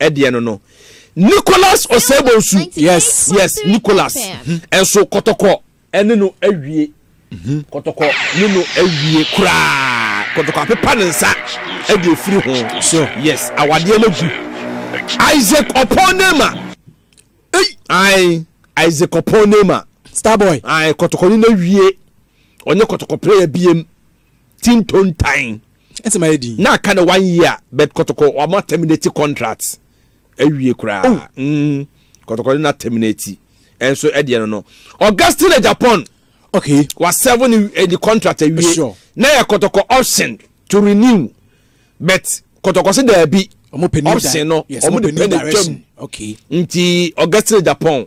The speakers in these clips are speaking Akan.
ɛdeɛ no no Nicholas Osei-Bonsu yes yes Nicholas ɛnso hmm. kɔtɔkɔ ɛne no awie hmm. kɔtɔkɔ ne no awie koraa kɔtɔkɔ apepa ne nsa ɛde efiri ho so yes awadeɛ no gu Isaac Oponema ei ayi Isaac Oponema starboy ayi kɔtɔkɔ ne no awie ɔnyɛ kɔtɔkɔ player biem. team tontan ɛsɛ ma yɛ din na aka no one year but kɔtɔkɔ wɔn a terminate contract awie koraa oh. mm, kɔtɔkɔ no na terminate ɛnso ɛdeɛ no no augustine na japan okay wa seven ni eh, the contract awie sure. na yɛ kɔtɔkɔ option to renew but kɔtɔkɔ se daabi option no wɔn de pɛ na twam nti augustine japan.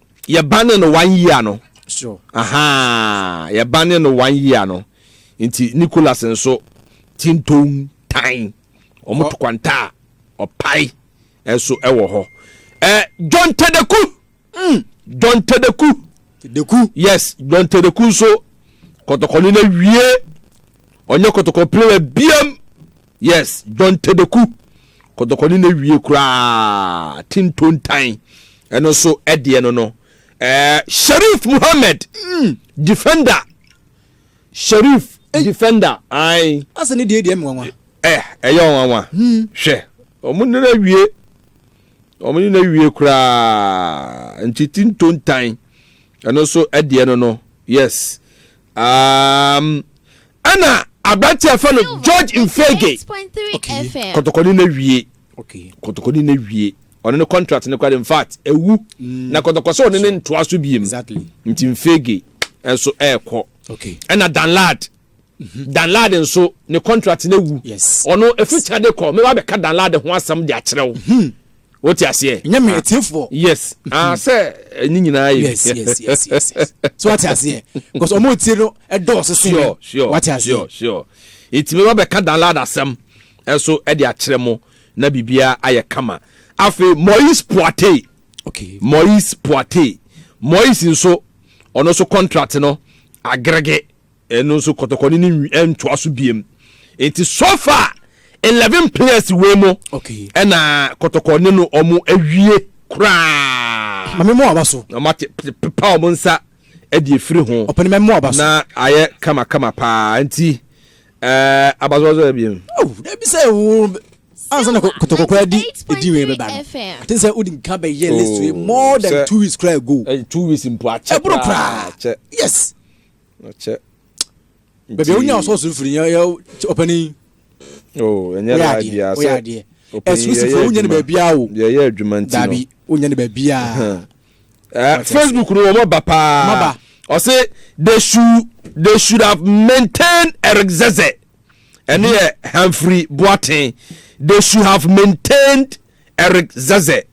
yɛ ba ne no one year no sure. aha yɛ ba ne no one year no nti nicholas nso tinton tan wɔn to kwanta a ɔpae nso wɔ hɔ ɛɛ john tedeku mm. john tedeku tedeku yes john tedeku nso kɔtɔkɔni na wie ɔnyɛ kɔtɔkɔ player biam Yes John Tedeku kɔtɔkɔ ne na wie koraa tintontan ɛno so ɛdeɛ no no ɛɛ eh, Sharif Muhammad mm, defender Sharif hey. defender ayi. Asa ne deɛ deɛ mi nwanwa. Ɛ eh, ɛyɛ nwanwa. Hmm. Hwɛ wɔn ne na wie wɔn ne na wie koraa nti tintontan ɛno so ɛdeɛ no no yes. Um, ɛna aberante a fɛ no George Mfege. Okay. Kɔtɔkɔni na wie. Okay. Kɔtɔkɔni na wie. Ɔno ne contract ne kora in fact ewu. Mm. Na kɔtɔkɔ sɛ ɔne ne ntoa so biem. Exactly. Nti Mfege nso ɛɛkɔ. Okay. Ɛna Danlad. Mm-hmm. Danlad nso ne contract na ewu. Yes. Ɔno efi kyade kɔ. Mɛ wa bɛ ka Danlad ho asɛm de akyerɛw. Mm-hmm. wote aseɛ ɛnyɛ me atiefoɔ yes ah hmm. sɛ eh, ne nyinaa yɛ yes yes yes yes yes so wate aseɛ because ɔmo otie no ɛdɔɔso eh, sure sure wate aseɛ sure sure nti mi ba bɛ ka download asɛm ɛso eh, ɛde akyerɛ mo na biribiara ayɛ kama afei moise poate okay moise poate moise nso ɔno nso contract no agrege. Ɛno nso kɔtɔkɔne no nwi ɛntoa so biem nti so far eleven players wei mo okay. ɛna kɔtɔkɔne no ɔmo awie koraa. Mame mo aba so. Ɔmo ate pepa ɔmo nsa ɛde efiri ho. Ɔpɛni mame mo aba so. Na ayɛ kama kama paa nti ɛɛ abazɔzɔ ebien. Oh, ebi sɛ wo ansa na kɔtɔkɔ koraa di edi wei bɛba no ati sɛ wodi nka bɛyɛ list wei oh, more than two weeks koraa ago eh, two weeks mpo akyɛ ɛboro koraa yes ɔkyɛ baabi a wonya ɔsɔɔso mfiri yɛ ɔpanin oh, ɛnyɛ laa biaa sɛ ɛsusufoɔ wonya no baabiaa o yɛyɛ adwuma nti no daabi wonya no baabiaa eh, facebook no wɔmɔ ba paa ɔse they should they should have maintained eric zeze ɛne yɛ hamfrey boaten they should have maintained eric zeze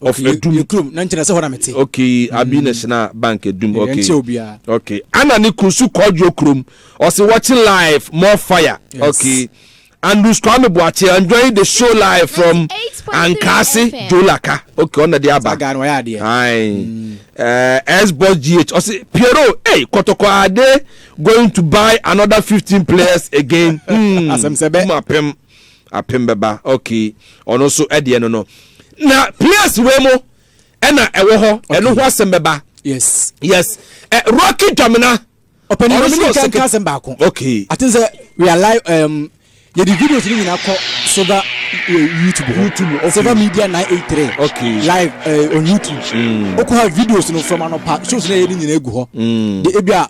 of okay, edum edum na nkyɛn sɛ hɔ na mete okay mm. abi na hyɛna bank edum okay ɛnkyɛ obiara okay ana ne kuru so kɔdwo kurom ɔsi watching live more fire yes. okay andrews kwame buakye enjoying the show live from ankase jolaka okay ɔna de aba saga no ɔyɛ adeɛ ayi mm. eh, s boss gh ɔsi piero hey kɔtɔkɔ ade going to buy another fifteen players again. Hmm. asɛm sɛ bɛ. Apem bɛba okay ɔno nso ɛdeɛ no no na place wei mo ɛna ɛwɔ hɔ ɛno ho asɛm bɛba yes yes ɛ rocky dwamina ɔpɛni ɔno nso kan kan asɛm baako okay ati sɛ we are live um, yɛ di videos ni nyinaa kɔ silver uh, youtube hɔ youtube okay silver media nine eight three okay live uh, on youtube mm. okɔ ha videos no from anɔpa shows na yɛ ni nyinaa egu hɔ mm. de ebi a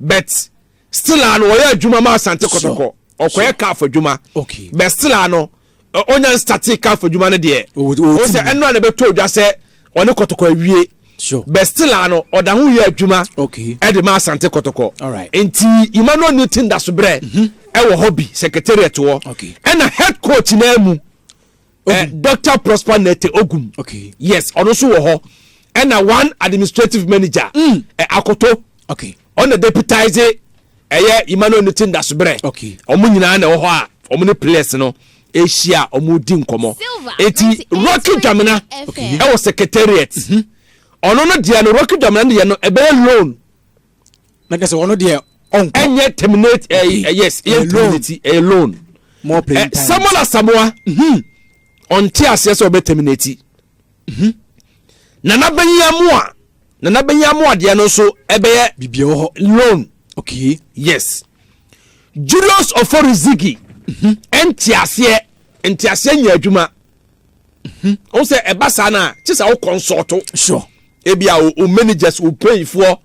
But still a no ɔyɛ adwuma ma Asante Kɔtɔkɔ. Ɔkɔyɛ calf adwuma. Okay. But still a no ɔnya nstate calf adwuma no deɛ. Ɔwɔ sɛ ɛno a na ɛbɛtɔ dwa sɛ ɔne Kɔtɔkɔ awie. Sure. But still a no ɔda ho yɛ adwuma. Okay. Ɛde ma Asante Kɔtɔkɔ. Alright. Nti Emmanuel Newton da so brɛ. Mhm. Ɛwɔ hɔ bi secretariat wɔ. Okay. Ɛna head coach naa mu. Eh, Dr. Prosper Nete Ogum. Okay. Yes, ɔno nso wɔ hɔ. Ɛna one administrative manager. Mm. Eh, Akoto. Okay. Ɔna deputize ɛyɛ eh, Emmanuel Nete Ndasobrɛ. Okay. Ɔmo nyinaa na ɛwɔ hɔ a ɔmo ne players no ahyia a ɔmo di nkɔmɔ. Eti Rocky Dwamena ɛwɔ secretariat. Mm-hmm. Ɔno no deɛ no Rocky Dwamena no yɛ no ɛbɛyɛ loan. na kɛ sɛ ɔno deɛ ɔnkɔ ɛnyɛ terminate ɛɛ eh, eh, yes ɛyɛ terminate ɛyɛ eh, loan more playing time samuel asamoa mhm. ɔnte aseɛ sɛ ɔbɛ terminate mhm. nana bɛyi amoa nana bɛyi amoa deɛ no nso ɛbɛyɛ bibia wɔ hɔ loan okay yes julius oforizigi mhm. ɛnte aseɛ nte aseɛ nyɛ adwuma Mhm. o sɛ ɛba saa no a kye sɛ wo kɔnsɔɔto sure ebia o, o managers o mpanyinfoɔ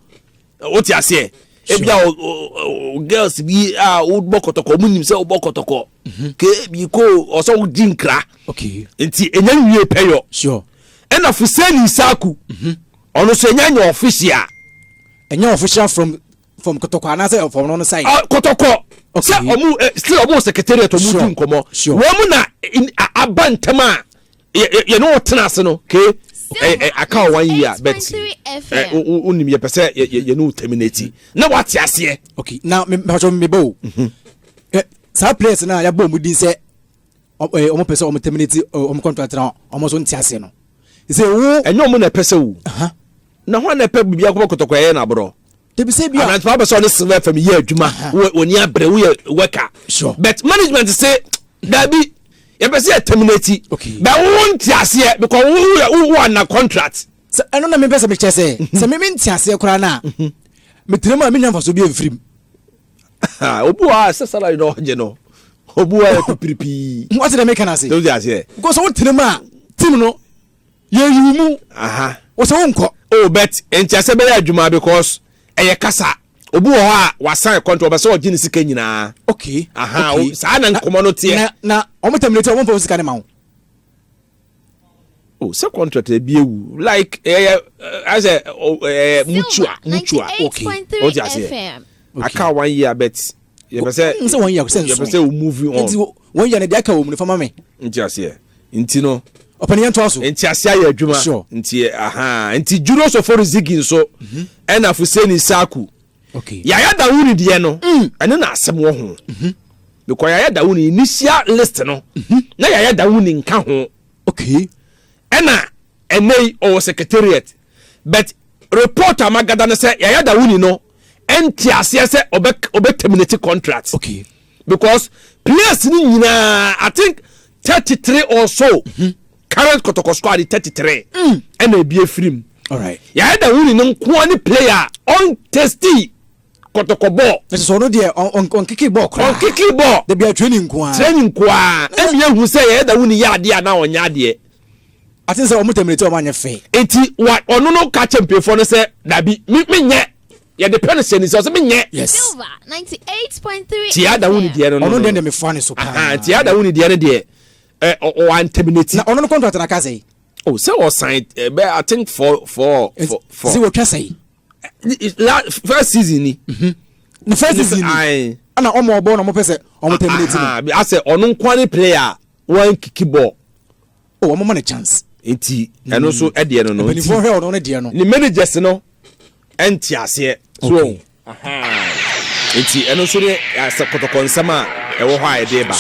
wote aseɛ ebia o, o, o girls bi a wobɔ kɔtɔkɔ ɔmo nim sɛ wobɔ kɔtɔkɔ mhm. ke bi ko ɔsɛ wogye nkra okay. nti ɛnya nwie pɛyɔ sure. ɛna fuseni saku mhm. ɔno so ɛnya nyɛ official ɛnya official from from kɔtɔkɔ anaasɛ from no no side. Uh, kɔtɔkɔ sɛ ɔmo eh, still ɔmo secretariat ɔmo di nkɔmɔ wɔn mu na aba ntɛm a yɛne wɔ tena ase no ke eh, eh, aka wɔ one year but wonim yɛpɛ sɛ yɛne wo terminate na wate aseɛ okay na mepatwɛ meba o mhm. saa players no a yɛbɔ ɔmo din sɛ ɔmo pɛ sɛ ɔmo terminate ɔmo contract na ɔmo so nte aseɛ no sɛ wo ɛnyɛ ɔmo na ɛpɛ sɛ wo Na hwan na ɛpɛ biribi akɔbɔ kɔtɔkɔɛ yɛ no aborɔ? Dabi sɛ bi a. Aberantewa bɛ sɛ ɔne silver fam yɛ adwuma. Wɔni abere woyɛ worker. Sure. But management se dabi yɛpɛ sɛ yɛ terminate. Okay. Bɛ wo nte aseɛ because wo wo yɛ wo under contract. Sɛ ɛno na mepɛ sɛ mekyɛ sɛ mhm. sɛ meme nte aseɛ koraa no a mhm. metenam a menya mfaso bi amfirim. Obi wɔ a sɛ salary na ɔgye no obi wɔ a yɛ pipiripii. Wɔte dɛ meka no ase. Sɛ wote aseɛ. Because wotenam a team no Yɛyi wo mu. Aha. Wo sɛ wonkɔ. Oh but nkyɛsɛ bɛyɛ adwuma because ɛyɛ kasa. Obi wɔ hɔ a wasan kɔntra ɔbɛ sɛ ɔgye ne sika nyinaa. Okay. Aha okay. Saa na nkɔmɔ no teɛ. Na na ɔmo terminate ɔmo nfa wo sika ne ma wo. Oh sɛ contract ebi ewu like ɛyɛ asɛ ɛɛ mutua mutua. Okay. O ti aseɛ. Aka one year bet yɛpɛ sɛ wɔn sɛ wɔn yɛ sɛ nson yɛpɛ sɛ wɔn move on nti wɔn yɛ no deɛ aka wɔn mu no fama me nti aseɛ nti no ɔpɛni yɛn to aso nti aseɛ ayɛ adwuma sure nti aha nti juro sɔfo rizigi nso mhm. ɛna fuseni saku okay yaya dawuni deɛ no mm. ɛne na asɛm wɔ ho mhm. because yaya dawuni initial list no mhm. na yaya dawuni nka ho okay ɛna ɛnɛ ɔwɔ secretariat but report a magada ne sɛ Yaya Dawuni no ɛnte aseɛ sɛ ɔbɛ ɔbɛ terminate contract okay. because players no nyinaa I think thirty three or so mm -hmm. current kɔtɔkɔ squad thirty three mm. ɛna ebi efiri mu Yaya Dawuni no nkoa ne player ɔntesti kɔtɔkɔ bɔɔl. Ɛsɛ sɛ ɔno deɛ ɔnkeke bɔɔl koraa. Ɔnkeke bɔɔl. Dabi a training nko ara. Training nko ara. Ɛmi yɛ hu sɛ yɛyɛ da wuni yɛ adeɛ anaa ɔnyɛ adeɛ. Ate n sɛ ɔmo tɛmire ti ɔmo anyɛ fɛ. Nti wa ɔno no ka kyɛ mpanyinfoɔ no sɛ dabi me me nyɛ. Yɛde pɛ no hyɛ ne nsa ɔsɛ me nyɛ. Yes. Nti yɛ ada wuni deɛ no no. Ɔno deɛ deɛ me fa ne so paa. Ahaa nti yɛ ada wuni deɛ no deɛ ɛ ɔ ɔ an tɛmine ti. Na ɔno no contract na ka sɛ. Oh sɛ ɔsan ɛ bɛ I think four four four. Sɛ wɔtwa sɛ. la first season ni. Mhm. ne first season ni ɛna ɔmo ɔbɔ na ɔmo pɛ sɛ ɔmo terminate no. asɛ ɔno nkoa ne player a wɔn kiki bɔ. o ɔmo ma ne chance. nti ɛno nso mm. ɛdeɛ no no nti mpanyinfoɔ hwɛ ɔno ne deɛ no. ne managers no ɛnti aseɛ. so nti ɛno nso ne asɛ kɔtɔkɔ nsɛm a ɛwɔ hɔ a ɛde ba.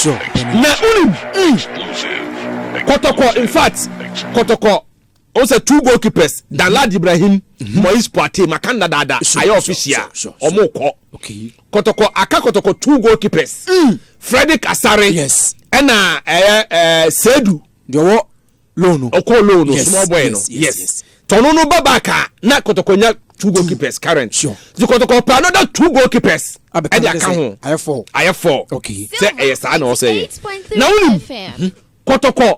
na unim mm. kɔtɔkɔ in fact kɔtɔkɔ. o sɛ two goalkeepers mhm. Danlad Ibrahim mhm. Moise Poitier maka nna daada ayɛ official ɔmo kɔ kɔtɔkɔ aka kɔtɔkɔ two goalkeepers mm. Frederick Asare ɛna ɛyɛ ɛɛ Sedu deɛ ɔwɔ loan ɔkɔ loan no small boy no yes tɔno no ba back a na kɔtɔkɔ nya two mm. goalkeepers current di kɔtɔkɔ pa another two goalkeepers ɛde aka ho ayɛ four ayɛ four sɛ ɛyɛ saa na ɔsɛ yɛ na wonim mhm. kɔtɔkɔ.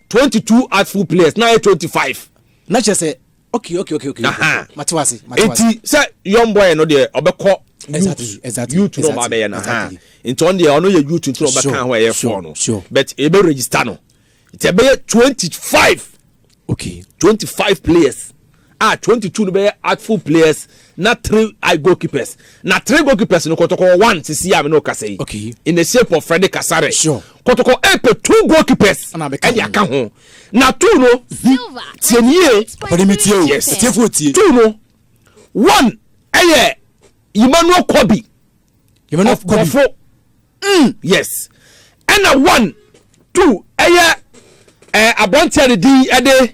twenty two artful players na ayɛ twenty five. na kyerɛ sɛ okay okay okay okay mate wase mate wase nti sɛ young boy no deɛ ɔbɛkɔ exactly exactly youth no ɔba bɛyɛ no ha nti ɔno deɛ ɔno yɛ youth nti ɔbɛka ho ɛyɛ four no but ɛbɛ register no nti ɛbɛyɛ twenty five okay twenty five players. a twenty two no bɛyɛ artful players na three I goalkeepers na three goalkeepers no kɔtɔkɔ one sisi a me no kasa yi okay. in the shape of Freddy Kasare sure. kɔtɔkɔ ɛpɛ two goalkeepers ɛde aka ho na two no tie ne yie ɔpɛde mi tie o yes ɛtiefo tie two no one ɛyɛ Emmanuel Kobi Emmanuel Kobi ɔfo mm yes ɛna one two ɛyɛ ɛɛ eh, aberanteɛ ne din ɛde.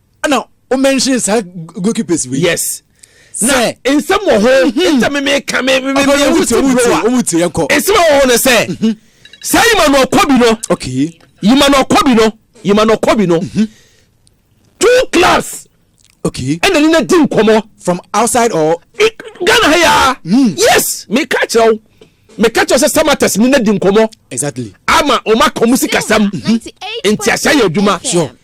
ɛna o mention saa goalkeepers wei. yes na nsɛm wɔ ho mhm. nta mi mi ka mi mi mi mi wusi bro a ɔmu ti yɛ kɔ nsɛm wɔ ho ne sɛ mhm. saa yimanɔ kɔ bi no okay yimanɔ kɔ bi no yimanɔ kɔ bi no mhm. two clubs okay ɛna ni na di nkɔmɔ from outside or ghana ha ya mm. yes mi ka kyerɛ o mi ka kyerɛ sɛ samatas ni na di nkɔmɔ exactly ama ɔma kɔn mu sikasɛm nti ahyɛ yɛ adwuma sure.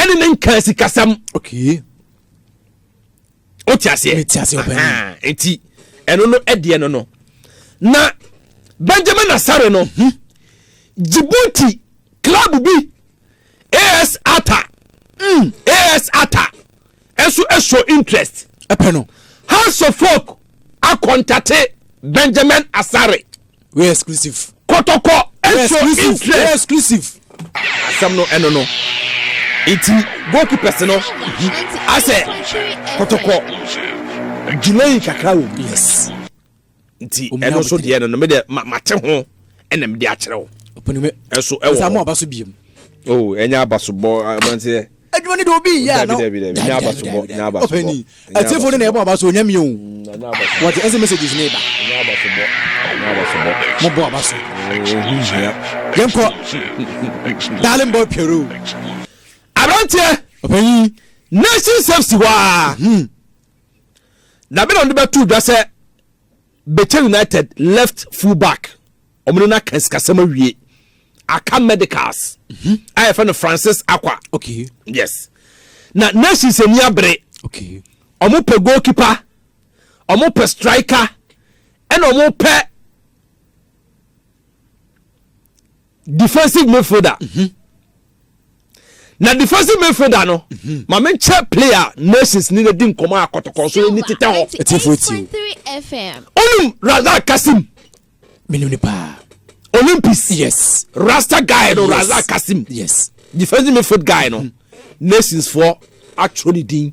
ɛne ne nkaa sikasɛm okay. wote aseɛ nti ɛno no ɛdeɛ no no na benjamin asare no hmm, djibouti club bi as ata mm, as ata ɛso show interest. Ɛpɛ no. House of Folk akɔntate Benjamin Asare. Wei exclusive. Kɔtɔkɔ ɛso interest. Wei exclusive. Asɛm no ɛno no. Nti goalkeepers no asɛ kɔtɔkɔ delay kakra wɔ mu. Yes. nti ɛno nso deɛ no no medeɛ mate ho ɛna mede akyerɛ wo ɛso ɛwɔ aba so biom o oh, ɛnyɛ abasobɔ abanteɛ adwuma no de obi yɛ ano nyɛ abasobɔ nyɛ abasobɔ ɔpɛni ɛtefo no na ɛbɔ aba so ɔnyɛ mi o wɔde ɛsɛ messages ne ba nyɛ abasobɔ nyɛ abasobɔ mo bɔ aba so yɛn kɔ darling boy piero aberanteɛ ɔpɛni nation safety hɔ a. Na bɛ na ɔde bɛto dwa sɛ Bɛkyɛ United left full back ɔmo ne no aka sikasɛm awie aka medicals mhm. a yɛfrɛ no Francis Akwa okay. yes na nations ani abere okay. ɔmo pɛ goalkeeper ɔmo pɛ striker ɛna ɔmo pɛ defensive midfielder mhm. na defensive midfielder no mhm. ma me nkyɛ player nations ni na di nkɔmɔ a kɔtɔkɔ so ni tetɛ hɔ ɛtifo ɛtiw ɔnum razak kasim menim ne paa olympics yes rasta guy no razak kasim yes defensive midfield guy no mhm. nations foɔ atwerɛ ne din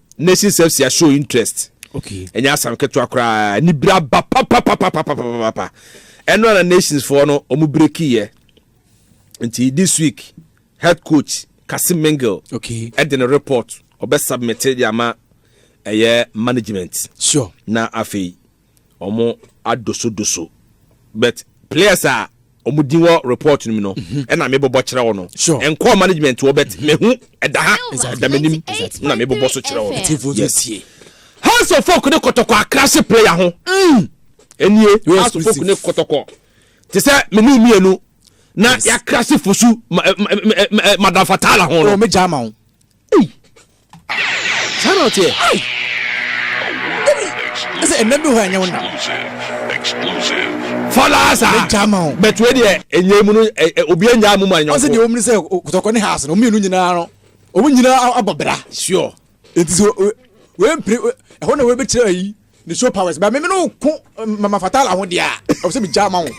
nation self sia show interest okay ɛnyɛ asam ketewa koraa ne bira ba papapapapapapa ɛno ana nations foɔ no ɔmo breki yɛ nti this week head coach kasi mingel okay ɛde ne report ɔbɛ submit de ama ɛyɛ management sure na afei wɔn adosodoso but players a wɔn din wɔ report no mu no mhm. ɛna mi bɔbɔ kyerɛ wɔn no nkɔɔ management wɔ but mhm. mehu ɛda ha ɛda m'anim ɛna mi bɔbɔ so kyerɛ wɔn yes house of folk ne kɔtɔkɔ akrase player ho mm. ɛnie house of folk ne kɔtɔkɔ te sɛ menu mmienu na yakrase fosu madam fatala ho no. ɔmɛ gya ma ho. Ei! Saa na ɔteɛ. Ei! Dabi! Ɛsɛ ɛnna bi hɔ a ɛnyɛ wo nna. Fɔlaa saa. Me gya ma wo. But wei deɛ ɛnyɛ mu no obi ɛnyɛ amu ma nyɔnko. Ɔsɛ deɛ wɔn ni sɛ kutɔkɔ ne house no wɔn mmienu nyinaa no wɔn nyinaa abɔ bra. Sure. Nti sɛ wei mpere ɛhɔ na wei bɛkyerɛ ayi. ne show powers ba me no ko mama fatala ho deɛ a ɛwɔ sɛ megya ma wo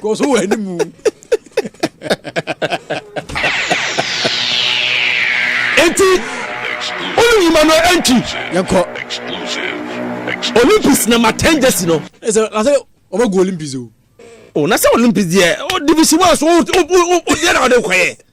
kɔ so wɔ animu enti wone yima no ɛntwi yɛnkɔ olympics na matɛn gyesi no ɛsɛ na sɛ ɔbɛgu olympics o o na sɛ olympics deɛ division one so wodeɛ na wode kɔyɛ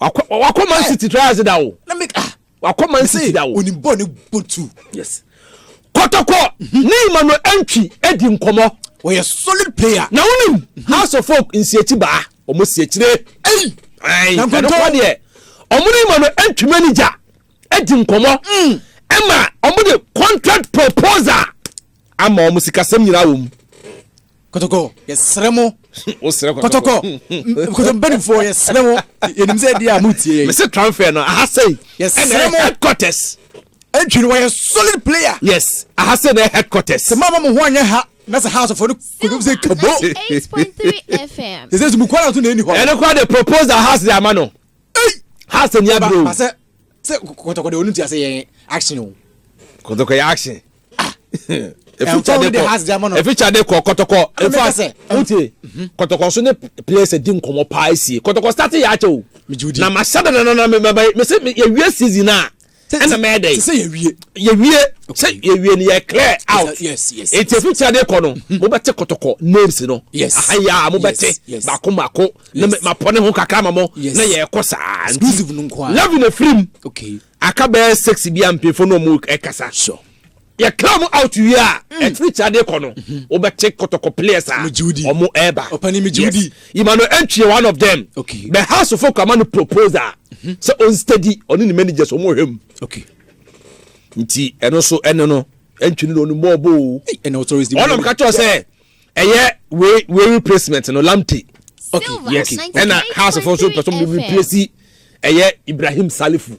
wakɔ man city trials da o wakɔ man city da o onim bɔ ne botu yes kɔtɔkɔ mhm. ne emmanuel antwi adi nkɔmɔ wɔyɛ solid player na wonim mhm. house of folk nsiakyi baa wɔn siakyire ɛyi ɛnokɔ deɛ wɔn ne emmanuel antwi manager adi nkɔmɔ mm. ɛma wɔn de contract proposal Ama wɔn sikasɛm nyinaa wɔ mu. Kɔtɔkɔ, yɛsrɛ mo. Wosrɛ kɔtɔkɔ. Kɔtɔkɔ, kɔtɔ mpanimfoɔ, yɛsrɛ mo. Yɛnim sɛ ɛdeɛ a mo tie yɛn. Mese transfer no, aha sei. Yɛsrɛ mo. Headquarters. Entry no wɔyɛ solid player. Yes, aha sei na headquarters. Sɛ moama mo ho anyɛ ha, na sɛ house fɔ no kɔdwom sɛ kabo. Sɛ sɛ sɛ mukɔ na so na ɛni hɔ. Ɛno kora de propose the house de ama no. ei hasa ni abiri o. ba sɛ sɛ kɔtɔkɔ de onu ti ase yɛ action o. kɔtɔkɔ yɛ action. ah eficha de kɔ eficha de kɔ kɔtɔkɔ efa wuti kɔtɔkɔ so ne players di nkɔmɔ paa esie kɔtɔkɔ start yɛ akyɛ o na ma hyɛ de nana na mɛ mɛ mɛ sɛ yɛ wie season naa. ɛna mɛyɛ dɛ sɛ yɛwie yɛwie sɛ yɛwie no yɛ clear out nti ɛfiri sɛ adeɛ kɔ no mhm. mobɛte kɔtɔkɔ names no ahaya mobɛte baako baako na mapɔ ne ho kakra ma mo na yɛkɔ saa nti love no firim aka bɛyɛ sex bi a mpemfo no ɔmo ɛkasa Yɛ clear ɔmo out wie a, mm. ɛtiri ti adeɛ kɔ no, mhm. wo bɛ te kɔtɔkɔ players a, ɔmo ɛɛba. Ɔpani mi jiwudi. Ima no ɛntwi one of them. Okay. Bɛ house fo kura ma no proposal. Mhm. Sɛ on steady, ɔne ne managers ɔmo hwɛ mu. Okay. Nti ɛno so ɛno no, ɛntwi no ɔno mɔɔbo o. Ɛna ɔtɔrɔ esi. Ɔnam kakyɛ sɛ, ɛyɛ wei wei replacement no lamte. Okay. Yes. Ɛna house fo so pɛsɛm de replace ɛyɛ Ibrahim Salifu.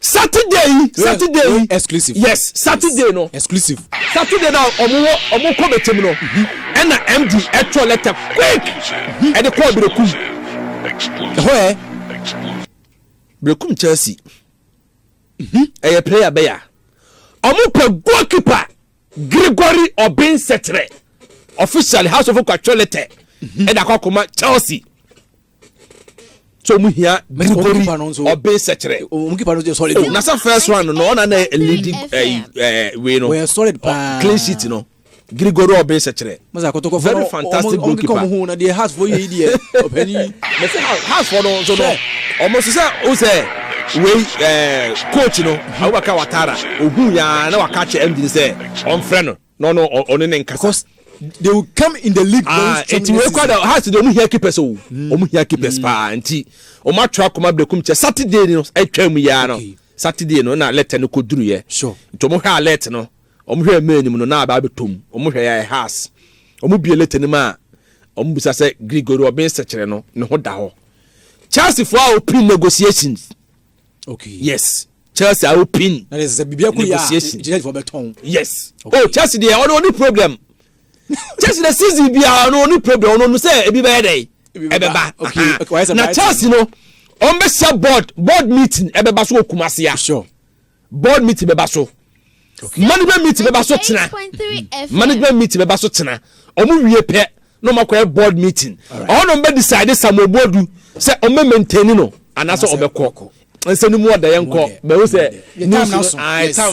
saturday yi saturday yi exclusive yes saturday no exclusive saturday na ɔmo wɔ ɔmo kɔ bɛtɛm no ɛna md ɛtɔ lɛtɛ quick ɛde kɔɔ berekum ɛhɔ ɛ berekum chelsea mhm. ɛyɛ player bɛya ɔmo pɛ goalkeeper gregory ɔbɛnsɛtrɛ officially house of kwatwɔ lɛtɛ mhm. ɛde akɔ akɔma chelsea. so mu hia burubori ɔbɛn sɛkyerɛ o na sɛ first round no ɔna na leading ɛyi ɛɛ wei no clean sheet no grigoro ɔbɛn sɛkyerɛ very fantastic goalkeeper mɛsɛ hasfo no nso no ɔmo nso sɛ o sɛ wei ɛɛ coach no awobaka watara ohun yaa na waka kyɛ ɛmdi sɛ ɔnfrɛ no. No no ɔno ne nkasa. Because they will come in the league very ah, strong. Nti wei kɔ da hearts de ɔmo hia keepers o. Hmm. Ɔmo hia keepers hmm. paa nti ɔmo atwa akoma berekum kyɛ Saturday no atwa mu yaa no. Saturday no na alert no kɔ duru yɛ. Sure. Nti ɔmo hwɛ alert no ɔmo hwɛ mmaa anim no na aba abɛtɔm ɔmo hwɛ yɛ hearts ɔmo bie alert no mu a ɔmo bisa sɛ Gregory ɔbɛn sɛkyerɛ no ne ho da hɔ. Chelsea fo a ɔpin negotiations. okay yes chelsea awo pin na de sɛ biribi akɔ yɛ a gyina fɔ bɛtɔn yes okay. oh chelsea deɛ ɔno ɔne problem chelsea na season biara ɔno ɔne problem ɔno ɔno sɛ ebi bɛyɛ dɛ ɛbɛba na chelsea no ɔn bɛ hyɛ board board meeting ɛbɛba so wɔ kumasi a sure. board meeting bɛba so management meeting bɛba so tena management meeting bɛba so tena wɔn wie pɛ na wɔn akɔyɛ board meeting ɔhɔ na wɔn bɛ decide samuel boadu sɛ wɔn bɛ maintain no anaasɛ wɔn bɛ kɔ nsɛm ni mu ɔda yɛn kɔ bɛn o sɛ news no ayi tam.